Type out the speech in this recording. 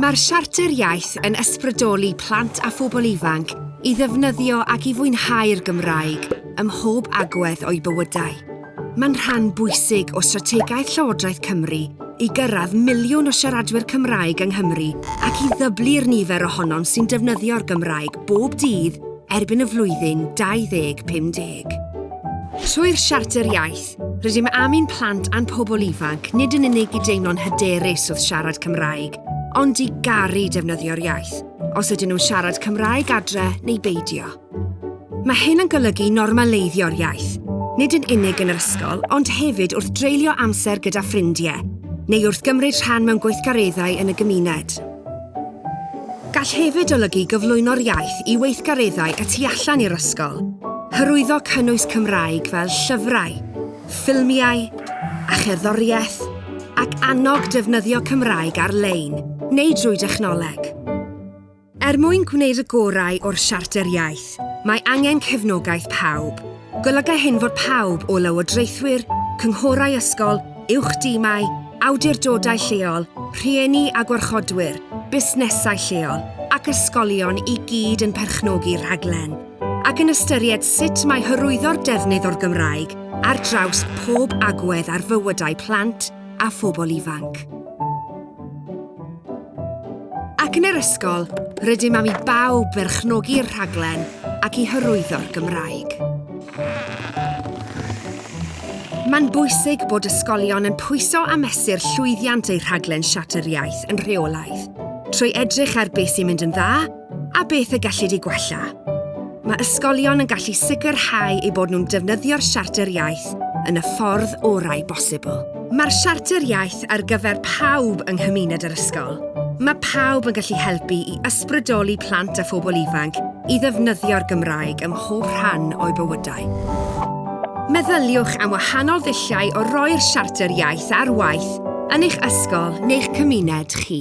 Mae'r Siarter Iaith yn ysbrydoli plant a phobl ifanc i ddefnyddio ac i fwynhau'r Gymraeg ym mhob agwedd o'u bywydau. Mae'n rhan bwysig o strategaeth Llywodraeth Cymru i gyrraedd miliwn o siaradwyr Cymraeg yng Nghymru ac i ddyblu'r nifer ohonom sy'n defnyddio'r Gymraeg bob dydd erbyn y flwyddyn 2050. Trwy'r Siarter Iaith, Rydym am i'n plant a'n pobl ifanc nid yn unig i deimlo'n hyderus wrth siarad Cymraeg, ond i garu defnyddio'r iaith, os ydyn nhw'n siarad Cymraeg adre neu beidio. Mae hyn yn golygu normaleiddio'r iaith, nid yn unig yn yr ysgol, ond hefyd wrth dreulio amser gyda ffrindiau, neu wrth gymryd rhan mewn gweithgareddau yn y gymuned. Gall hefyd olygu gyflwyno'r iaith i weithgareddau y tu allan i'r ysgol, hyrwyddo cynnwys Cymraeg fel llyfrau, ffilmiau a cherddoriaeth, ac annog defnyddio Cymraeg ar-lein neu drwy dechnoleg. Er mwyn gwneud y gorau o'r Siarter Iaith, mae angen cefnogaeth pawb, Golyga hyn fod pawb o lywodraethwyr, cynghorau ysgol, uwch dimau, awdurdodau lleol, rhieni a gwarchodwyr, busnesau lleol ac ysgolion i gyd yn perchnogi'r rhaglen ac yn ystyried sut mae hyrwyddo'r defnydd o'r Gymraeg ar draws pob agwedd ar fywydau plant, a phobl ifanc. Ac yn yr ysgol, rydym am i bawb berchnogi'r rhaglen ac i hyrwyddo'r Gymraeg. Mae'n bwysig bod ysgolion yn pwyso a mesur llwyddiant eu rhaglen Siarter Iaith yn rheolaidd, trwy edrych ar beth sy'n mynd yn dda A beth y gellid ei gwella? Mae ysgolion yn gallu sicrhau eu bod nhw'n defnyddio'r Siarter Iaith yn y ffordd orau bosibl. Mae'r Siarter Iaith ar gyfer pawb yng nghymuned yr ysgol. Mae pawb yn gallu helpu i ysbrydoli plant a phobl ifanc i ddefnyddio'r Gymraeg ym mhob rhan o'u bywydau. Meddyliwch am wahanol ddulliau o roi'r Siarter Iaith ar waith Yn eich ysgol neu'ch cymuned chi.